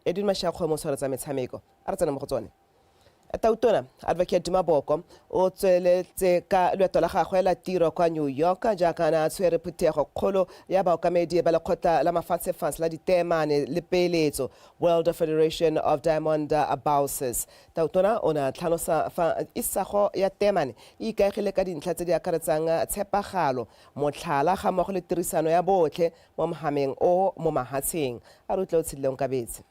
Edwin Mashakgwe mo tshwaro tsa metshameko. A re tsena mo go tsone. Tautona Advocate Duma Boko o tsweletse ka loeto la gagwe la tiro kwa New York jaaka na a tshwere phuthego kgolo ya baokamedi ba lekgotla la mafatshefans la diteemane le peeletso World Federation of Diamond Bouses. Tautona o ne a tlhalosa fa isago ya teemane e ikaegile ka dintlha tse di akaretsang tshepagalo, motlhala ga mmogo le tirisano ya botlhe mo mogameng o mo mahatsheng a re utlwa o tshedile onkabetse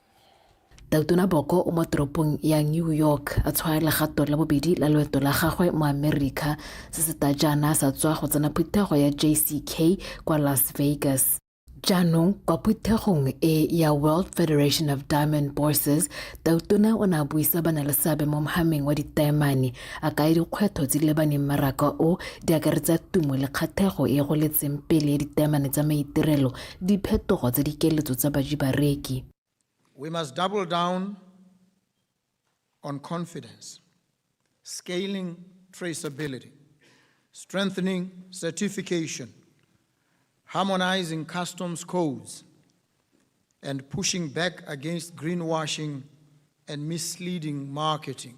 Tautona Boko o mo toropong ya New York a tshwaya legato la bobedi la loeto la gagwe mo America se se ta jaana sa tswa go tsena phuthego ya JCK kwa Las Vegas. Jaanong kwa phuthegong e ya World Federation of Diamond Bourses, Tautona o ne a buisa ba na le seabe mo mogameng wa ditaemane A kaya dikgwetlho tse di lebaneng mmaraka o di akaretsa tumo le kgathego e e goletseng pele ya ditaemane tsa maitirelo, diphetogo tsa dikeletso tsa baji-bareki. We must double down on confidence, scaling traceability, strengthening certification, harmonizing customs codes, and pushing back against greenwashing and misleading marketing.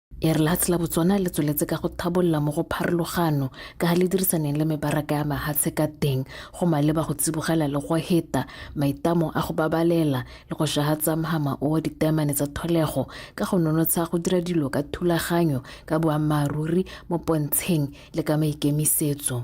E re lehatshe la Botswana le tsweletse ka go thabolla mo go pharologano ka ga le dirisaneng le mebaraka ya mahatshe ka teng go maleba go tsibogela le go heta maitamo a go babalela le go shahatsa mhama o wa ditaemane tsa tholego ka go nonotsha go dira dilo ka thulaganyo ka boammaaruri mo pontsheng le ka maikemisetso.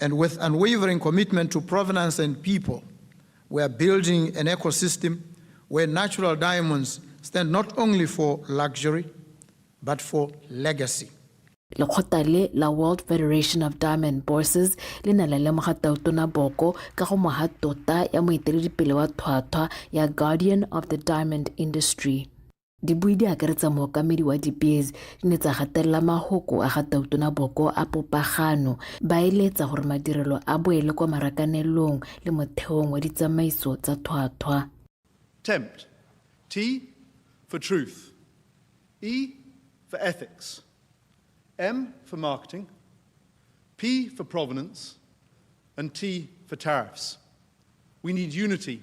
and with unwavering commitment to provenance and people, we are building an ecosystem where natural diamonds stand not only for luxury, but for legacy. lekgotla le la world federation of diamond bourses le ne la lemoga tautona boko ka go moga tota ya moeteledipele wa thwathwa ya guardian of the diamond industry Dibui di akaretsa mookamedi wa dipeezi di ne tsa gatelela mahoko a ga Tautona Boko a popagano, ba eletsa gore madirelo a boele kwa marakanelong le motheong wa ditsamaiso tsa thwathwa. Tempt. T for truth. E for ethics. M for marketing. P for provenance. And T for tariffs. We need unity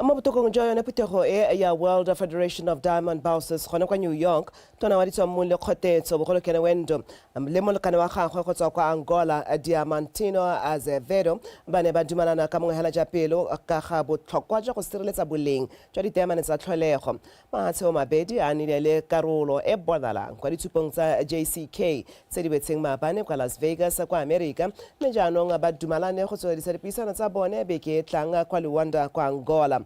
mo botokong jwa yone phuthego e ya world federation of diamond bouses gone kwa new york tona wa ditswang mong le kgotetso bogolokene wendo le molekane wa gagwe go tswa kwa angola diamantino azevedo ba ne ba dumalana ka mongwe hela ja pelo ka ga botlhokwa jwa go sireletsa boleng jwa diteamane tsa tlholego Matshwao mabedi a nile le karolo e bonalang kwa ditshupong tsa JCK tse di betseng maabane kwa Las Vegas kwa Amerika mme jaanong ba dumalane go tsweledisa dipuisano tsa bone beke e tlang kwa Luanda kwa Angola.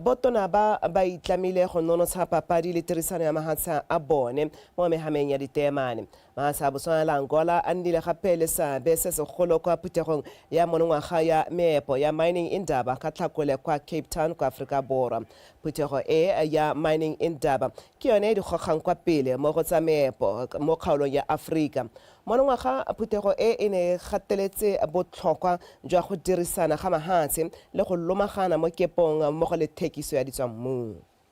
Botona ba ba itlamile go nonotsha papadi le tirisano ya mahatsha a bone mo mehameng ya diteemane. Maasa a Botswana le Angola a nnile gape le seabe se segolo kwa phuthegong ya monongwaga ya meepo ya Mining Indaba ka Tlhakole kwa Cape Town kwa Aforika Borwa. Phuthego e ya Mining Indaba ke yone e di gogang kwa pele mo go tsa meepo mo kgaolong ya Aforika. Monongwaga phuthego e e ne e gateletse botlhokwa jwa go dirisana ga mahatshe le go lomagana mo kepong mmogo le thekiso ya ditswammung.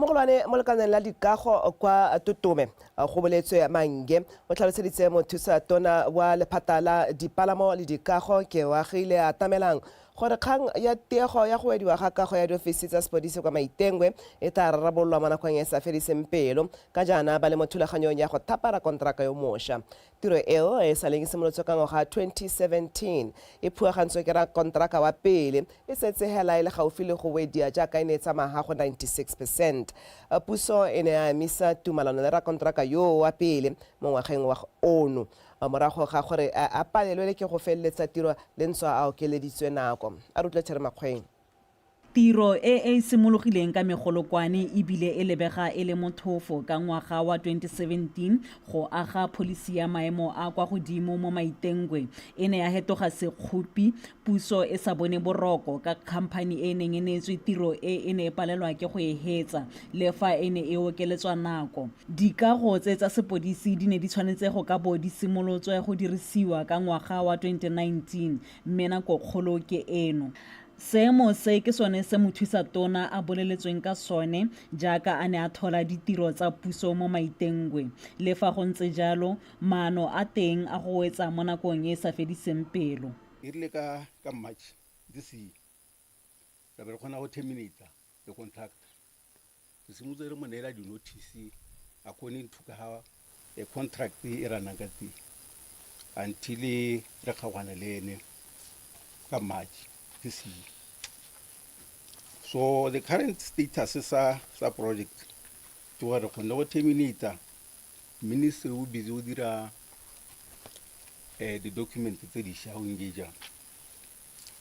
mogolwane mo lekaneng la dikago kwa totome go boletswe mange o tlhaloseditse mothusa tona wa lephata la dipalamo le dikago ke wagile a tamelang gore kgang ya tiego ya go wediwa ga kago ya diofisi tsa sepodisi kwa maitengwe e tla rarabololwa mo nakong e sa fediseng pelo ka jaana ba le mo thulaganyong ya go thapara konteraka yo mosha Tiro eo e e sa leng e simolotswe ka ngwaga wa 2017 e phuagantswe ke rakonteraka wa pele e setse hela e le gaufi le go wedia jaaka e ne e tsamaha go 96 percent. Puso e ne ya emisa tumalano le rakonteraka yoo wa pele mo ngwageng wa ono morago ga gore a palelwele ke go feleletsa tiro le ntswa a okeleditswe nako. A re utlwe Terry Makgweng. Tiro e e simologileng ka megolokwane e bile e lebega e le mothofo ka ngwaga wa 2017 go aga pholisi ya maemo a kwa godimo mo Maitengwe e ne ya hetoga sekgopi puso e sa bone boroko ka khamphani e e neng e neetswe tiro e e ne e palelwa ke go e hetsa le fa e ne e okeletswa nako. Dikago tse tsa sepodisi di ne di tshwanetse go ka bo di simolotswe go dirisiwa ka ngwaga wa 2019 mme nako kgolo ke eno. Seemo se ke sone se mothusa tona a boleletsweng ka sone jaaka a ne a thola ditiro tsa puso mo Maitengwe. Le fa go ntse jalo, maano a teng a go wetsa mo nakong e e sa fediseng pelo. E rile ka ka March this year, ra be re kgona go terminate-a the contractor re simotse re mo neela di-notice according to ka ga a contract e ra nang ka teng until re kgaogane le ene ka march this year so the current status sa sa project ke gore re kgonne go terminata ministry o busy o dira um di-document tse dišwa o engagea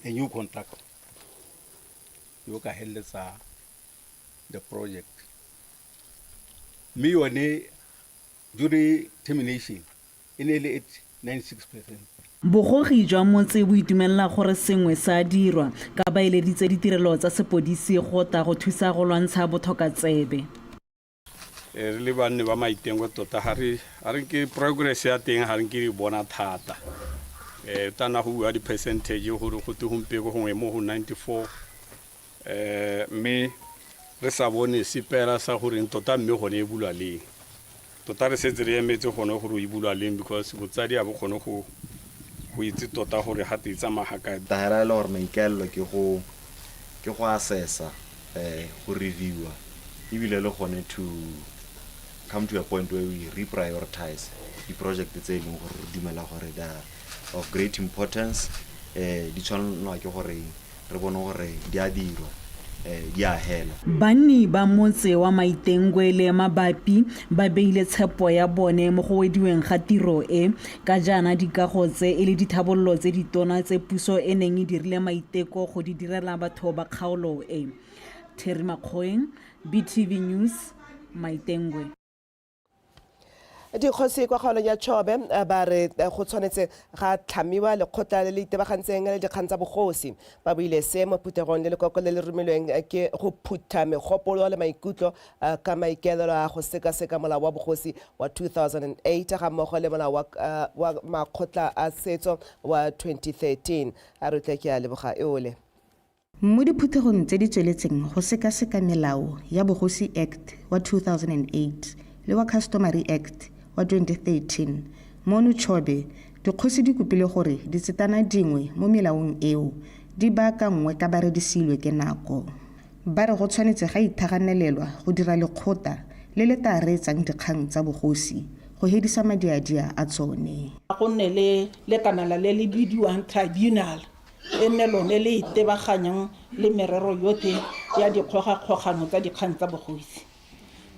a new contractor yo ka heleletsa the project mme yone during termination e ne e le at 96 percent Bogogi jwa motse bo itumelela gore sengwe sa dirwa ka ba eleditse ditirelo tsa sepodisi go ta go thusa go lwantsha bothokatsebe. Eh, re le banne ba maitengo tota ga re nke progress ya teng ga re nke re bona thata um eh, tana go bua di-percentage gore go te gompeko gongwe mo go 94 um eh, mme re sa bone sepela sa goreng tota mme gone e bulwa leng tota re setse re emetse gone gore o e bulwa leng because botsadi a bo kgone go itse tota gore ga te e tsamaya ga kae e le gore maikaelelo ke go ke go assessa, um go reviewer, ebile le gone to come to a point where we reprioritize di-project tse e leng gore re dumela gore the of great importance um di tshwanelwa ke gore re bone gore di a dirwa um di a hela banni ba motse wa maitengwe le mabapi ba beile tshepo ya bone mo go wediweng ga tiro e Ka jaana dikago tse e le dithabololo tse ditona tse puso e neng e dirile maiteko go di direla batho ba kgaolo e. Terry Makgoeng, BTV News, Maitengwe. Dikgosi kwa kgaolong ya Chobe ba re go tshwanetse ga tlhamiwa lekgotla le le itebagantseng le dikgang tsa bogosi. Ba buile se mo phuthegong le lekoko le le romilweng ke go phutha megopolo le maikutlo a ka maikaelelo a go sekaseka molao wa bogosi wa 2008 ga mmogo le molao wa, uh, wa makgotla a setso wa 2013 a re tle ke a leboga eole Mo diphuthegong tse di tsweletseng go sekaseka melao ya Bogosi Act wa 2008 le wa Customary Act wa 2013, Monu Chobe, dikgosi di kopile gore ditsetana dingwe mo melaong eo di baakanngwe ka ba re di siilwe ke nako. Ba re go tshwanetse ga ithaganelelwa go dira lekgota le le taa reetsang dikgang tsa bogosi go hedisa madiadia a tsone. A go nne le lekanala le le bidiwang tribunal e nne lone le itebaganyang le merero yotlhe ya dikgogakgogano tsa dikgang tsa bogosi.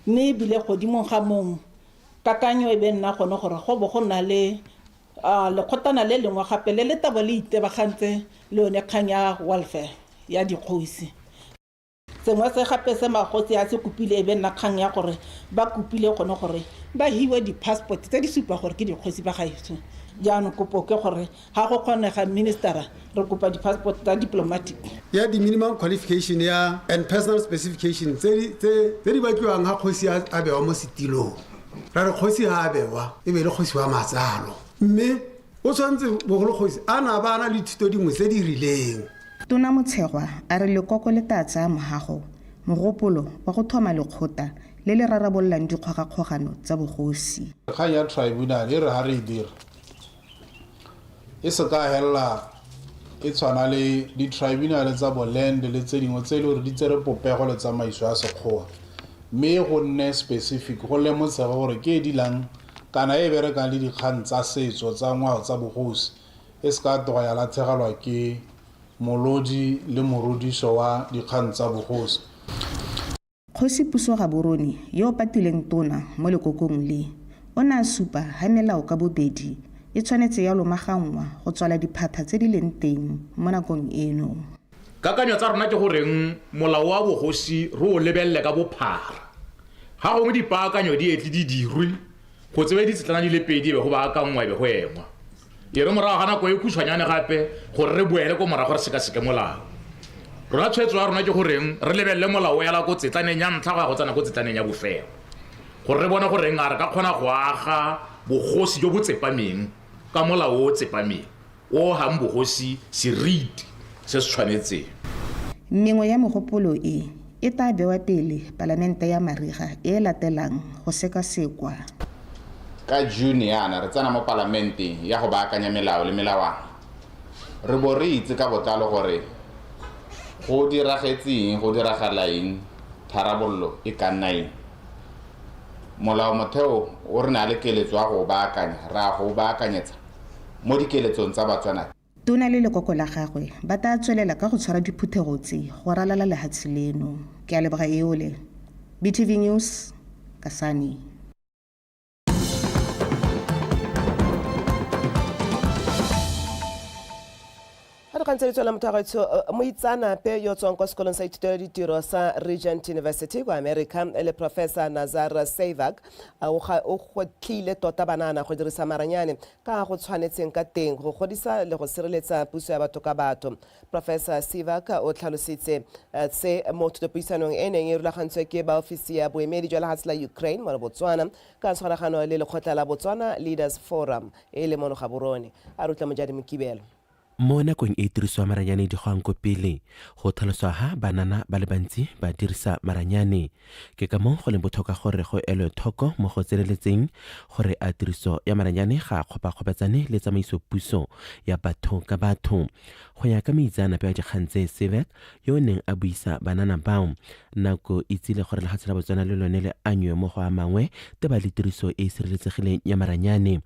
Mme ebile godimo ga moo, kakanyo e be nna gone gore go bo go na le A lekgotlana le lengwe gape le le tabo le itebagantse le yone kgang ya welfare ya dikgosi. Sengwe se gape se magosi a se kopile e be nna kgang ya gore ba kopile gone gore ba hiwe di-passport tse di supa gore ke dikgosi ba gaetsho. Jaanong kopo ke gore ga go kgonega minister-ra re kopa di-passport tsa diplomatic. Ya di-minimum qualification ya and personal specification tse di batliwang ga kgosi a bewa mo setilong. ra re kgosi ga a bewa e be le kgosi wa matsalo mme o tshwanetse bogolo kgosi a na ba na le thuto dingwe tse di rileng tona motshegwa a re lekoko le tla tsaya mogago mogopolo wa go thoma lekgota le le rarabololang dikgogakgogano tsa bogosi kgang ya tribunal e re ga re e dira e se ka helela e tshwana le di-tribunale tsa boland le tse dingwe tse e le gore di tsere popego le tsamaiso ya sekgowa mme go nne specific go lemotshege gore ke e dilang kana e berekang le dikgang tsa setso tsa ngwao tsa bogosi e se ka toga ya latlhegelwa ke molodi le morodiso wa dikgang tsa bogosi Kgosi Puso Gaborone yo o patileng tona mo lekokong le, o ne a supa ha melao ka bobedi e tshwanetse ya lomaganngwa go tswala diphatha tse di leng teng mo nakong eno. Kakanyo tsa rona ke goreng molao wa bogosi re o lebelele ka bophara. Ga gongwe dipaakanyo di etle di dirwe go tsewe ditshetlana di le pedi e be go baakanngwa e be go engwa. e re morago ga nako e khutshwanyane gape gore re boele ko morago re sekaseke molao rona tshwetso ya rona ke goreng re lebelele molao o yala ko tsetlaneng ya ntlha go ya go tsena ko tsetlaneng ya bofelo gore re bone goreng a re ka kgona go aga bogosi jo bo tsepameng ka molao o tsepameng o gang bogosi seriti se se tshwanetseng mengwe ya megopolo e E tla bewa pele Palamente ya mariga e e latelang go sekasekwa. Ka June yana re tsena mo Palamenteng ya go baakanya melao le melawana. Re bo re itse ka botlalo gore go diragetse eng, go diragala eng, tharabololo e ka nna eng. Molaomotheo o re naa le keletso ya go o baakanya, ra go o baakanyetsa mo dikeletsong tsa Batswana tse. Tona le lekoko la gagwe ba taa tswelela ka go tshwara diphuthego tse go ralala lehatshe leno. Ke a leboga Eole. BTV News, Kasane. ga dikgang tse di tswela motho wa gaetsho eh, moitsaanape yo tswang kwa sekolong sa ithutelo ditiro sa regent university kwa america e le professor nazar savak eh, o gotlhile tota banana go dirisa maranyane ka go tshwanetseng ka teng go godisa le go sireletsa puso ya batho ka batho. Professor Sivak o tlhalositse eh, se mo thutopuisanong e neng e rulagantswe ke ba ofisi ya boemedi jwa lehatshe la Ukraine mo Botswana ka tshwaragano le lekgotla la Botswana Leaders Forum e le mono Gaborone. A rutla Mojadi Mokibelo. Mo nakong e tiriso ya maranyane di goang ko pele, go tlhaloswa ha banana ba le bantsi ba dirisa maranyane. Ke ka moo go leng botlhokwa gore go elwe thoko mo go tseneletseng gore a tiriso ya maranyane ga a kgopakgopatsane le tsamaiso puso ya batho ka batho. Go ya ka moitseanape wa dikgang tse Sevek yo o neng a buisa banana bao, nako e tsile gore lefatshe la Botswana le lone le anywe mo go a mangwe teba le tiriso e e sireletsegileng ya maranyane.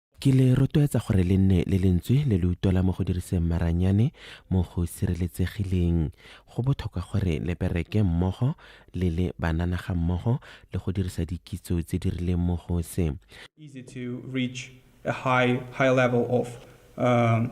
Ke le rotloetsa gore le nne le lentswe le le utlwala mo go diriseng maranyane mo go sireletsegileng. Go botlhokwa gore le bereke mmogo le le banana ga mmogo le go dirisa dikitso tse di rileng mo go se. easy to reach a high high level of um,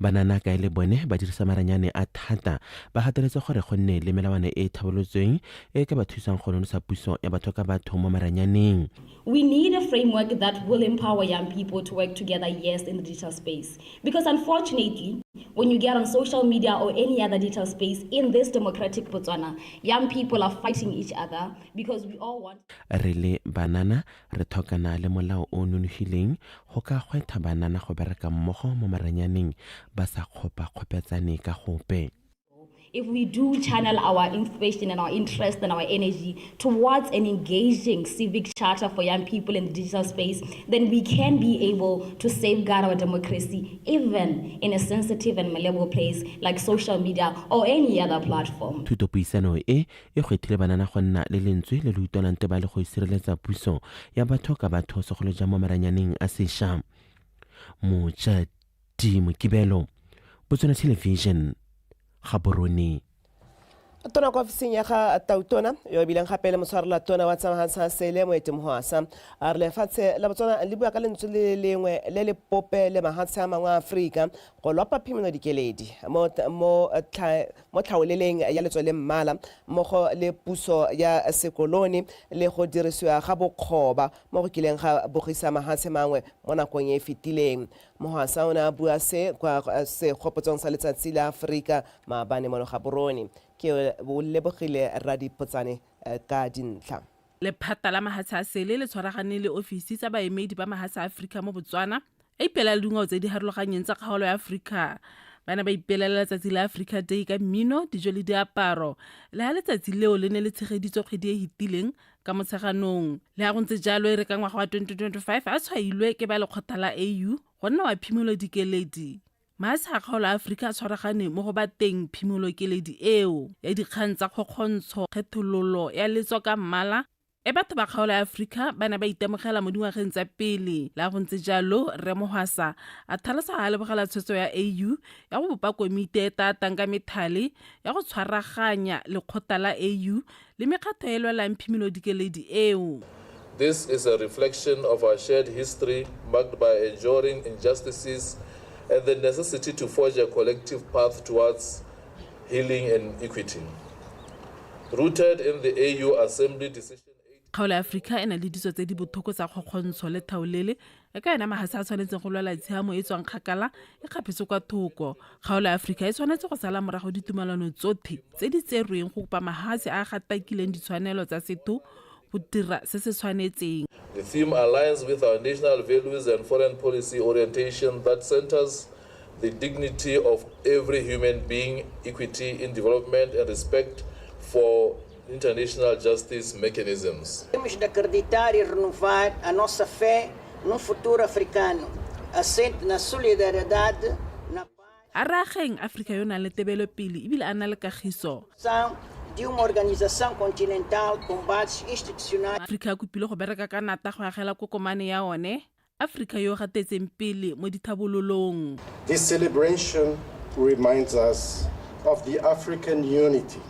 Banana kae le bone ba dirisa maranyane a thata ba gateletse gore go nne le melawana e e tlhabolotsweng e e ka ba thusang go nonosa puso ya batho ka batho mo maranyaneng. We need a framework that will empower young people to work together yes in the digital space because unfortunately when you get on social media or any other digital space in this democratic Botswana young people are fighting each other because we all want Re le Banana Re thokana le molao o o nonofileng go ka gweetha banana go bereka mmogo mo maranyaneng ba sa kgopakgopetsane ka gope. If we do channel our inspiration and our interest and our energy towards an engaging civic charter for young people in the digital space, then we can be able to safeguard our democracy even in a sensitive and malleable place like social media or any other platform. Thutopuisano e e kgethile banana go nna le lentswe le le utlwalang te ba le go sireletsa puso ya batho ka batho segolo jang mo maranyaneng a sesha mojadi mokibelo botswana television ga borone tona kwa ofising ya ga tautona yo e bileng gape le motshwarela tona wa tsamagatsha sele moete mohwasa a re lefatshe la botswana le bua ka lentswe le lengwe le le pope le mahatshe a mangwe a aforika go lopa phimeno dikeledi mo mo tlhaoleleng ya letswele mmala mmogo le puso ya sekolone le go dirisiwa ga bokgoba mo go kileng ga bogisa mahatshe mangwe mo nakong e e fetileng. Mohasa o ne a bua se kwa Segopotsong sa Letsatsi la Aforika maabane mo Logaborone. Ke Lebogile Radipotsane ka dintlha. Lephata la mahatshe a sele le tshwaragane le ofisi tsa baemedi ba mahatshe a Aforika mo Botswana, a ipelela le dingwao tse di harologanyeng tsa kgaolo ya aforika ba ne ba ipelela letsatsi la aforika day ka mmino dijo le diaparo le ga letsatsi leo le ne le tshegeditswe kgwedi e hitileng ka motsheganong le ga go ntse jalo e re ka ngwaga wa 2025 a tshwailwe ke ba lekgotla la au go nna wa phimolo dikeledi maase a kgaolo a aforika a tshwaragane mo go bateng phimolo keledi eo ya dikgang tsa kgokgontsho kgethololo ya letso ka mmala E batho ba kgaolo ya Afrika ba ne ba itemogela mo dingwageng tsa pele. La go ntse jalo, Rre Mohwasa a tlhalosa ga a lebogela tshwetso ya AU ya go bopa komiti e e tatang ka methale ya go tshwaraganya lekgotla la AU le mekgatlho e e lwelang phimolodikeledi eo. This is a reflection of our shared history marked by enduring injustices and the necessity to forge a collective path towards Healing and Equity. Rooted in the AU Assembly Decision Kgaolo ya Aforika e na le ditso tse di bothoko tsa kgokgontsho le thaolele, e ka yona magase a tshwanetseng go lwela tshiamo e tswang kgakala e kgapetswe kwa thoko. Kgaolo ya Aforika e tshwanetse go sala morago ditumalano tsothe tse di tserweng go kopa magase a a gatakileng ditshwanelo tsa setho go dira se se tshwanetseng. The theme aligns with our national values and foreign policy orientation that centers the dignity of every human being, equity in development, and respect for international justice mechanisms. Temos de acreditar e renovar a nossa fé num futuro africano assente na solidariedade a re ageng aforika yo o nang le tebelopele ebile a na le kagiso aforika a kopile go bereka ka nata go agela kokomane ya one aforika yo o gatetseng pele mo dithabololong This celebration reminds us of the African Unity,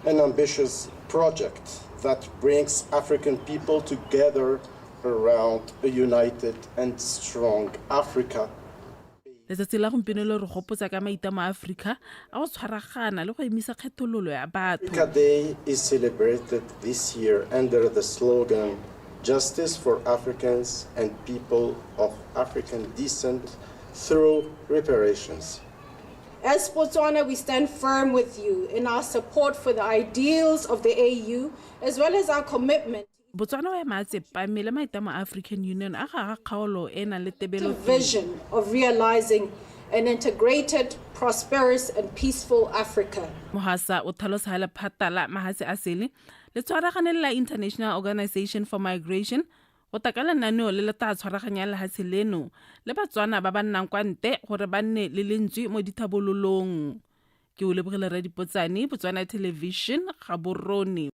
an ambitious project that brings African people together around a united and strong Africa. letsatsi la gompieno le re gopotsa ka maitamo a aforika a go tshwaragana le go emisa kgethololo ya batho Justice for Africans and people of African descent through reparations. As Botswana, we stand firm with you in our support for the ideals of the AU as well as our commitment. Botswana o ema a tsepame le maitamo a African Union a ga kgaolo e e nang le tebelo vision of realizing an integrated, prosperous and peaceful Africa. Mohasa o tlhalosa lephata la mahatshe a sele le tshwaragane le la International Organization for Migration go tla ka lenaneo le le tla tshwaraganyang lehatshe leno le Batswana ba ba nnang kwa nte gore ba nne le lentswe mo dithabololong. Ke o lebogile Radipotsane, Botswana Television, Gaborone.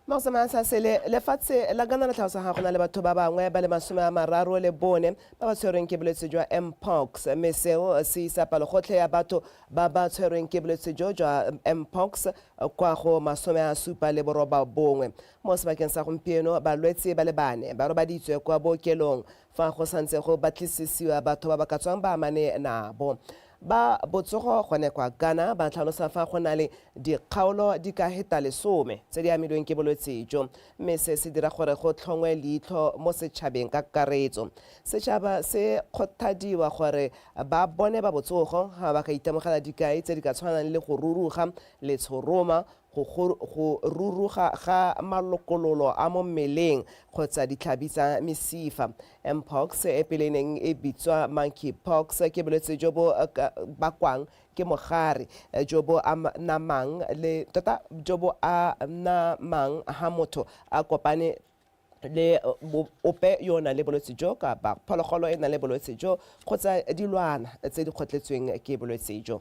magosamaya sa sele lefatshe la kana le tlhalosa ga gona le batho ba bangwe ba le masome a mararo le bone ba ba tshwerweng ke bolwetse jwa mpox mme seo se isa palogotlhe ya batho ba ba tshwerweng ke bolwetse jo jwa mpox kwa go masome a supa le boroba bongwe mo sebakeng sa gompieno balwetse ba le bane ba robaditswe kwa bookelong Fa go santse go batlisisiwa batho ba ba ka tswang ba amane nabo, ba botsogo gone kwa Ghana ba tlhalosa fa go na le dikgaolo di ka heta lesome tse di amilweng ke bolwetse jo mme se se dira gore go tlhongwe leitlho mo setšhabeng ka kakaretso. Setšhaba se kgothadiwa gore ba bone ba botsogo ga ba ka itemogela dikai tse di ka tshwanang le go ruruga, letshoroma, go go ruruga ga malokololo a mo mmeleng kgotsa ditlhabi tsa mesifa. Mpox, e pele e neng e bitswa monkeypox, ke bolwetse jo bo bakwang ke mogare jo bo namang le tota jo bo a namang ha motho a kopane le ope yo o nang le bolwetse jo kapa phologolo e nang le bolwetse jo kgotsa dilwana tse di kgotletsweng ke bolwetse jo.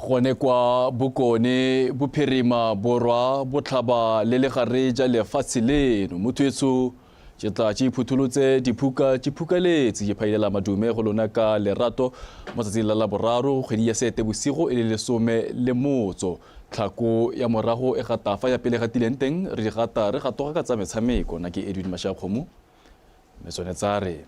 Gone kwa Bokone Bophirima Borwa Botlhaba le legare ja lefatshe leno, mo thwetso ke tla ke iphutholotse diphuka ke phukaletse ke phailela madume go lona ka lerato mo tsatsing la laboraro kgwedi ya Seetebosigo e le lesome le motso tlhako ya morago e gata fa ya pele gatileng teng re di gata re gatoga ka tsa metshameko na ke Edwin Mashakgomo mme tsone tsa re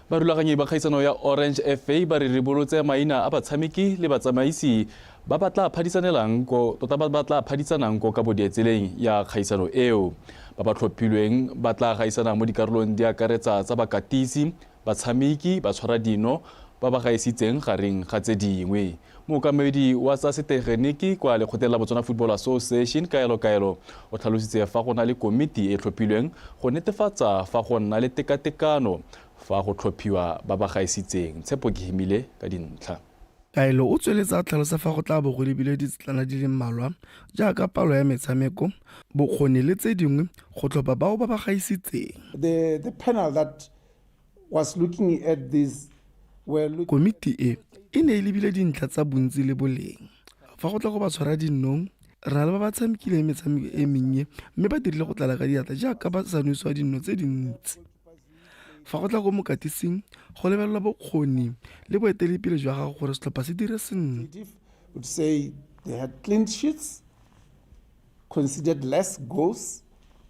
barulaganyi ba kgaisano ya orange fa ba re ribolotse maina a batshameki le batsamaisi ba ba tla phadisanelang ko tota ba ba tla phadisanang ko ka bodietseleng ya kgaisano eo ba ba tlhophilweng ba tla gaisana mo dikarolong di akaretsa tsa bakatisi batshameki ba tshwara dino ba ba gaisitseng gareng ga tse dingwe Mookamedi wa tsa setegeniki kwa lekgotleng la Botswana Football Association, Kaelo Kaelo, o tlhalositse fa go na le komiti e tlhophilweng go netefatsa fa go nna le tekatekano fa go tlhophiwa ba ba gaisitseng. Tshepo ke Himile ka dintlha. Kaelo o tsweletse a tlhalosa fa go tla bo go lebilwe ditsetlana di le mmalwa jaaka palo ya metshameko, bokgoni le tse dingwe go tlhopha bao ba ba gaisitseng. Komiti e e ne e lebile dintlha tsa bontsi le boleng. Fa go tla go ba tshwara dinnong, re na le ba ba tshamekileng metshameko e mennye mme ba dirile go tlala ka diatla jaaka ba sa nwesiwa dinno tse dintsi. Fa go tla ko mokatising, go lebelelwa bokgoni le boeteledipele jwa gago gore setlhopha se dire sentle. considered less goals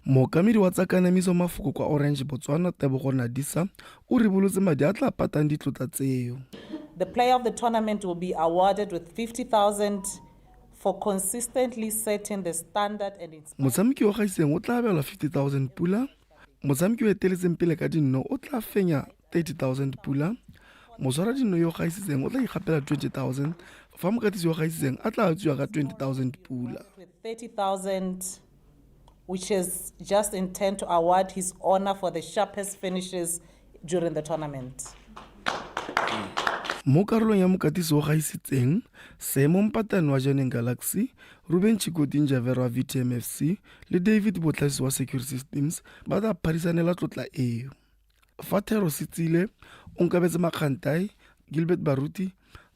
Mookamedi wa tsa kanamiso mafoko kwa Orange Botswana Tebogo Nadisa o ribolotse madi a tla patang ditlotla tseo. The player of the tournament will be awarded with 50,000 for consistently setting the standard and inspiring. Motshameki o gaiseng o tla abelwa 50,000 pula. Motshameki o eteletseng pele ka dinno o tla fenya 30,000 pula, moswaradino yo o gaisitseng o tla ikgapela 20,000 fa mokatisi yo o gaisitseng a tla tswiwa ka 20,000 pula. which is just intent to award his honor for the sharpest finishes during the tournament. mo karolong ya mokatisi o gaisitseng seemo mpatane wa janeng galaxy ruben chikoting javero wa vtmfc le david botlhagisi wa secure systems ba tla phadisanela tlotla eo Fa Thero Setsile, Onkabetse Makgantai, Gilbert Baruti,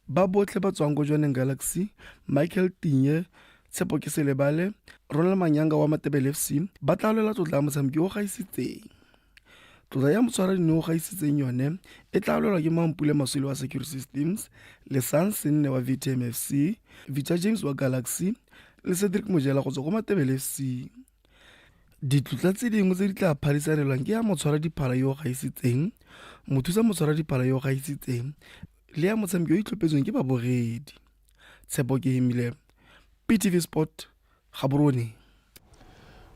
ba botlhe ba tswang ko Jwaneng Galaxy, Michael Tinye, Tshepo ke Selebale, Ronald Manyanga wa Matebele FC ba tla lwela tlotla ya motshameki o gaisitseng. Tlotla ya motshwaradino o gaisitseng yone e tla lwelwa ke Mampule Maswile wa Secure Systems, Lesang Senne wa VTM FC, Vita James wa Galaxy le Cedric Mojela go tswa ko Matebele FC. Ditlotla tse dingwe tse di tla phadisanelwang ke ya motshwaradiphala yo o gaisitseng, mothusa motshwaradiphala yo o gaisitseng le ya motshameki yo itlhophetsweng ke baboredi. Tshepo ke hemile PTV Sport Gaborone.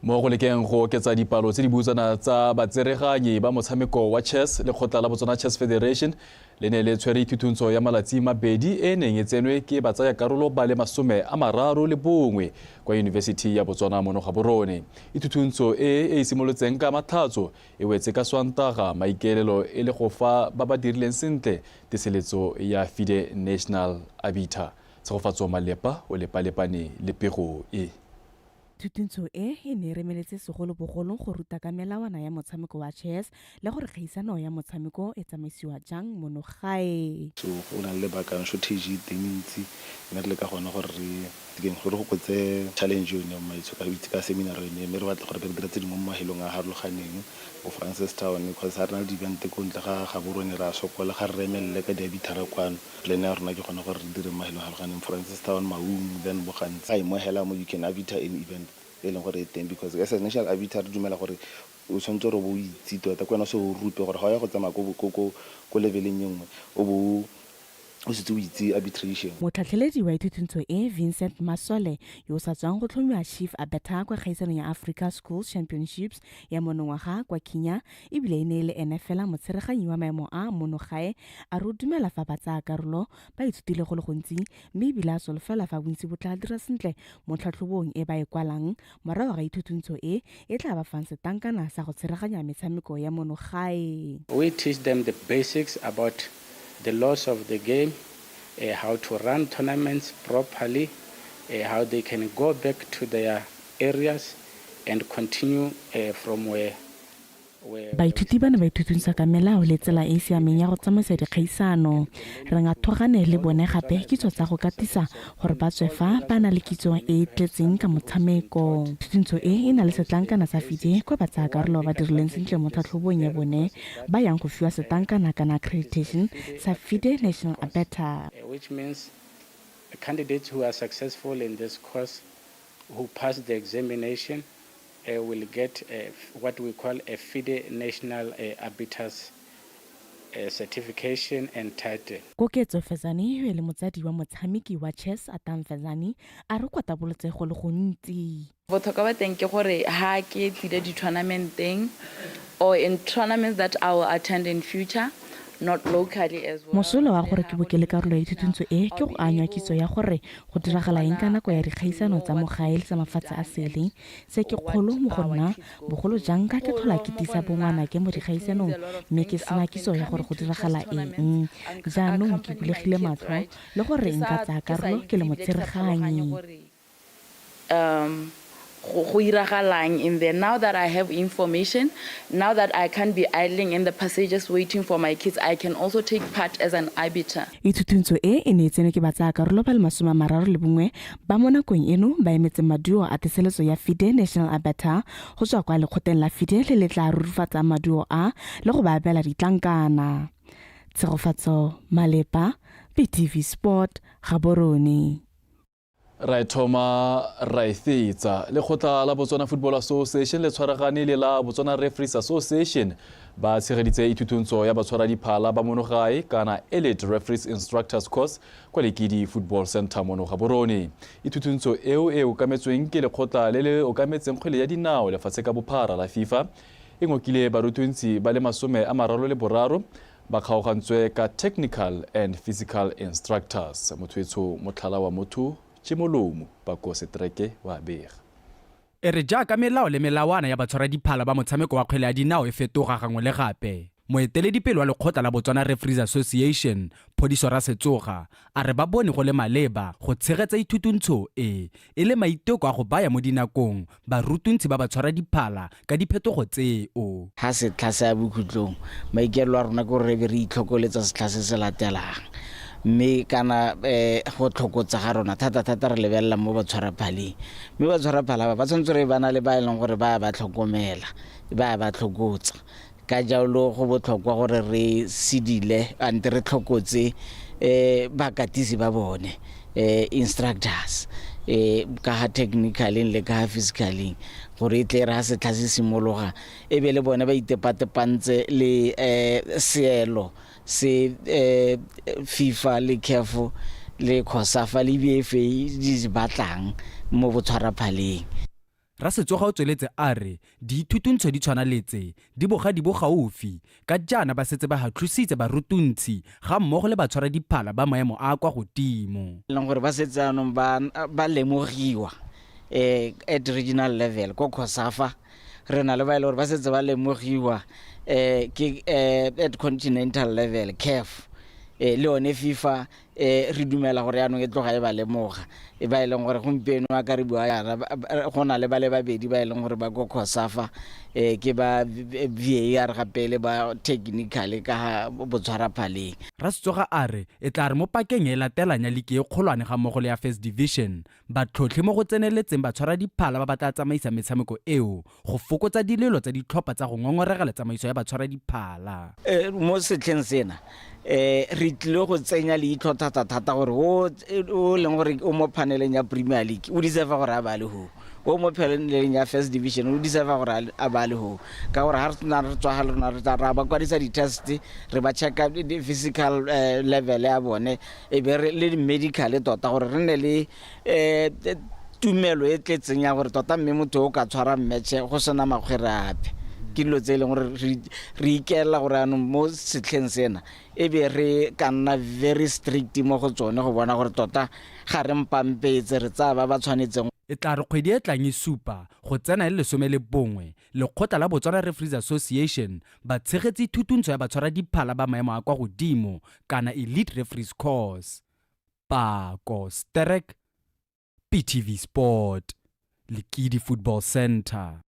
Mo go lekeng go oketsa dipalo tse di butsana tsa batsereganyi ba motshameko wa chess, lekgotla la Botswana Chess Federation Le ne le tshwere thuthuntso ya malatsi mabedi e e neng e tsenwe ke batsayakarolo ba le masome a mararo le bongwe kwa Yunibesithi ya Botswana mono Gaborone. Ithuthuntso e e simolotseng ka Matlhatso e wetse ka Swantaga maikaelelo e le go fa ba ba dirileng sentle teseletso ya FIDE National Arbiter. Tshegofatso Malepa o lepalepane le pego e. Thutuntsho e e ne e remeletse segolobogolo go ruta ka melawana ya motshameko wa chess le gore kgaisano ya motshameko e tsamaisiwa jang mono gae. So go na le lebaka and shortage e teng e ntsi mme re leka gone gore re dikeng gore go kgotse challenge yone ya mmaetsho ka go itse ka seminar yone mme re batla gore re dire tse dingwe mo mahelong a harologaneng bo Francistown because ha re na le di-event ko ntle ga Gaborone re a sokola ga re re emelele ka diabithara kwano. Plan ya rona ke gone gore re dire mo e leganeng Francistown, Maun, then bo gantsi ai mo hela mo you can arbiter any event e leng gore e teng because as a national arbiter re dumela gore o tshwanetse gore o bo o itse tota ke wena o se o rute gore ga o ya go tsamaya ko leveleng e nngwe o bo o setse o itse arbitration. Motlhatlheledi wa ithutintso e, Vincent Masole, yo o sa tswang go tlhomiwa Chief Arbiter kwa kgaisanong ya Africa Schools Championships ya monongwaga kwa Kenya, ebile e ne e le ene fela motsheraganyi wa maemo a mono gae a re o dumela fa ba tsaya karolo ba ithutile go le gontsi mme ebile a solofela fa bontsi bo tla dira sentle mo tlhatlhobong e ba e kwalang morago ga ithutuntsho e e tla ba fang setankana sa go tsheraganya metshameko ya mono gae We teach them the basics about the laws of the game, uh, how to run tournaments properly, uh, how they can go back to their areas and continue uh, from where Baithuti ba ne ba ithutungsa ka melao le tsela e e siameng ya go tsamaisa dikgaisano. Re nga thogane le bone gape kitso tsa go katisa gore ba tswe fa ba na le kitso e e tletseng ka motshameko. Thutungtsho e e na le setlankana sa FIDE kwa batsaakarolo ba ba dirileng sentle mo tlhatlhobong ya bone ba yang go fiwa setlankana kana accreditation sa FIDE National Abeta. which means the candidates who are successful in this course who pass the examination uh, will get a, uh, what we call a FIDE National uh, Arbiters uh, Certification and Title. Koketso Fezani yo e le motsadi wa motshameki wa chess Atam Fezani a re kwa tabolotse go le gontsi. Botlhokwa ba teng ke gore ha ke tlile di-tournamenteng or in tournaments that I will attend in future – Mosola wa gore ke bo ke le karolo ya thuthuntso e ke go anya kitso ya gore go diragala eng ka nako ya dikgaisano tsa mo gae le tsa mafatshe a sele. Se ke kgolo mo go nna, bogolo jang ka ke tlhola ke tiisa bongwanake mo dikgaisanong mme ke sena kitso ya gore go diragala eng. Jaanong ke bulegile matlho le gore nka tsaya karolo ke le motsereganyi. um go go iragalang in there now that i have information now that i can't be idling in the passages waiting for my kids i can also take part as an arbiter Ithutuntsho e e ne e tsenwe ke batsaakarolo ba le masome a mararo le bongwe ba mo nakong eno ba emetseng maduo a teseletso ya FIDE National Arbiter go tswa kwa lekgoteng la FIDE le le tla rurifatsang maduo a le go ba abela ditlankana. Tshegofatso Malepa, BTV Sport, Gaborone. ra e thoma ra e fetsa lekgotla la botswana football association le tshwaragane le la botswana referees association ba tshegeditse ithutontso ya batshwaradiphala ba monogae kana elite referees instructors course kwa lekidi football center mono ga borone ithutontso eo e okametsweng ke lekgotla le le okametseng kgwele ya dinao lefatshe ka bophara la fifa e ngokile barutuntsi ba le masome a mararo le boraro Ba kgaogantswe ka Technical and Physical Instructors, Mothoetsho Motlhala wa Motho, Tšimolomo Bako Setreke o a bega. E re jaaka melao le melawana ya batshwaradiphala ba motshameko wa kgwele ya dinao e fetoga gangwe le gape, moeteledipele wa lekgotla la Botswana Referees Association, Phodiso Rasetsoga, a re ba bone go le maleba go tshegetsa ithutuntsho e e le maiteko a go baya mo dinakong barutuntshi ba ba tshwara diphala ka diphetogo tseo. Ga setlha se ya bokhutlong, maikaelelo a rona ke gore re be re itlhokoletsa setlha se se latelang mme kana go tlhokotsa ga rona thata-thata re lebelela mo batshwaraphaleng. Mme batshwaraphala ba ba tshwanetse re ba na le ba e leng gore ba ya ba tlhokomela, ba ya ba tlhokotsa. Ka jalo go botlhokwa gore re sidile ante re tlhokotse bakatisi ba bone, instructors, ka ga technical-eng le ka ga physical-eng gore e tle e re ga setlha se simologa e be le bone ba itepatepantse le seelo se FIFA le CAF le Cosafa le di batlang mo botshwaraphaleng. Rasetsoga o tsweletse a re diithutuntsho di tshwana le tse di boga di bo gaufi ka jaana ba setse ba hatlhositse barutuntshi ga mmogo le batshwara diphala ba maemo a a kwa godimo. e leng gore ba setse jaanong ba ba lemogiwa um at regional level ko Cosafa re na le ba e le gore ba setse ba lemogiwa um ke um at continental level CAF um le yone FIFA um re dumela gore yaanong e tloga e ba lemoga e ba e leng gore gompieno a ka re bua yana go na le ba le babedi ba e leng gore ba ko cosafa um ke ba var ga pele ba technicale ka ga botshwaraphaleng Rasutsoga a re e tla re mo pakeng e latelang ya liki e kgolwane ga mmogo le ya First Division, Batlhotlhi mo go tseneletseng ba tshwara diphala ba ba tla tsamaisa metshameko eo go fokotsa dilelo tsa ditlhopha tsa go ngongoregela tsamaiso ya batshwara diphala. Mo setlheng sena re tlile go tsenya leitlho thata-thata gore o o leng gore o mo phaneleng ya Premier League o deserve-a gore a bale hoo, o mo phaneleng ya First Division o deserve-a gore a bale hoo ka gore ha re na re tswa ga le rona re tla ra ba kwadisa di-test re ba check-a physical level ya bone e be re le di-medical tota gore re ne le um tumelo e tletseng ya gore tota mme motho o ka tshwara mmetšhe go sena makgwere ape ke dilo tse e leng gore re ikelela gore anong mo setlheng sena e be re ka nna very strict mo go tsone go bona gore tota ga re mpampetse re tsaya ba ba tshwanetseng e tla re kgwedi e tlang e supa go tsena e le lesome le bongwe Lekgotla la Botswana Referees Association ba tshegetse thutuntsho ya batshwaradiphala ba maemo a kwa godimo kana Elite Referees Corps. Pako, Sterek, PTV Sport, Lekidi Football Centre.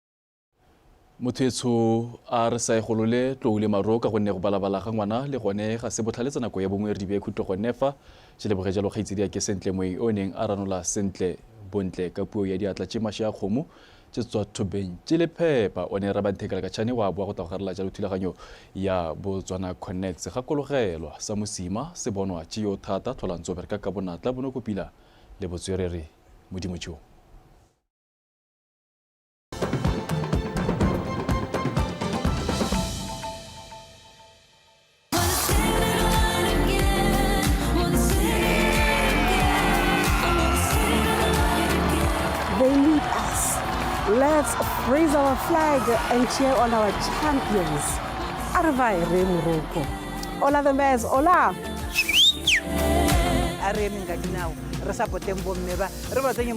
Mothwetsho a re sa e golole tlou le maro ka gonne go balabala ga ngwana le gone ga se botlhale tsa nako ya bongwe re di bee khutlo gone fa. Je leboge jalo kgaitsedi ya ke sentle moeng o neng a ranola sentle bontle ka puo ya diatla tše mashe a kgomo tše tswa thobeng tše le phepa o ne ra banthekela ka tšhane wa boa go tla go garela jalo thulaganyo ya botswana connects gakologelwa sa mosima se bonwa tše yo thata tlholantso bereka ka bonatla bonokopila le botswerere modimo tšeo They need us. Let's raise our flag and cheer on our champions. Arvai Re Moroko. Ola the Mares, ola! a re emeng ka dinao re sa poteng bomme ba re ba tsenye mo